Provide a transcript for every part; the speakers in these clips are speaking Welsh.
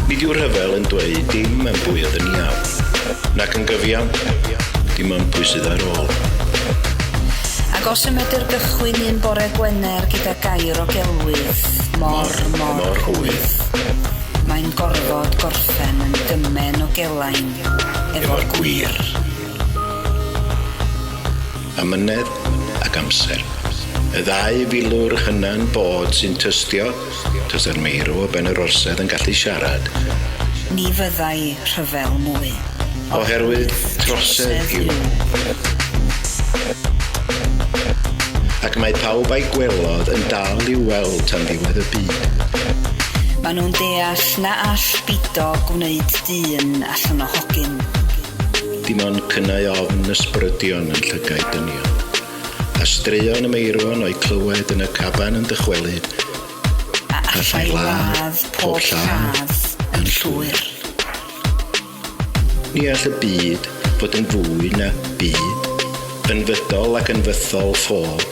Nid yw'r rhyfel yn dweud dim am bwy oedd yn iawn, nac yn gyfiawn, dim am pwy sydd ar ôl. Ac os y medr gychwyn un bore Gwener gyda gair o gelwydd, mor, mor, mor hwydd. Mae'n gorfod gorffen yn gymen o gelad. ymlaen efo'r gwir. Amynedd ac amser. Y ddau filwr hyna'n bod sy'n tystio, tasa'r meirw o ben yr orsedd yn gallu siarad. Ni fyddai rhyfel mwy. Oherwydd trosedd yw. Ac mae pawb a'i gwelodd yn dal i'w weld tan ddiwedd y byd. Maen nhw'n deall na all Bido gwneud un allan o hogyn. Dim ond cynnau ofn ysbrydion yn llygaid dynion, a straeon y meirwon o'u clywed yn y caban yn dychwelyd, a allai ladd pob lladd yn llwyr. Ni all y byd fod yn fwy na byd. Yn fydol ac yn fythol ffôl.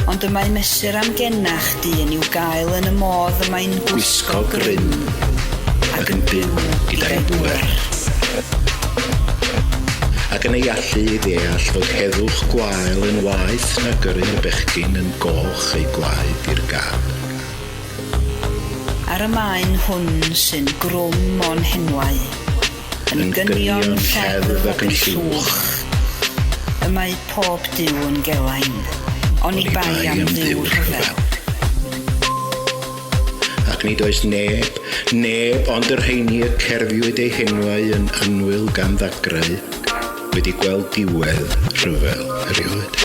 Ond y mae mesur amgenach dyn i'w gael yn y modd y mae'n gwisgo grym ac yn byw gyda'i bŵer. Ac yn ei allu i ddeall fod heddwch gwael yn waeth na gyrru'r bechgyn yn goch eu gwaed i'r gad. Ar y maen hwn sy'n grwm o'n henwau. Yn gynion lleddf ac yn llwch. Y mae pob Duw yn gelain. Oni bai am Dduw rhyfel. Ac nid oes neb, neb ond y rheini y cerfiwyd eu henwau yn annwyl gan ddagrau, wedi gweld diwedd rhyfel erioed.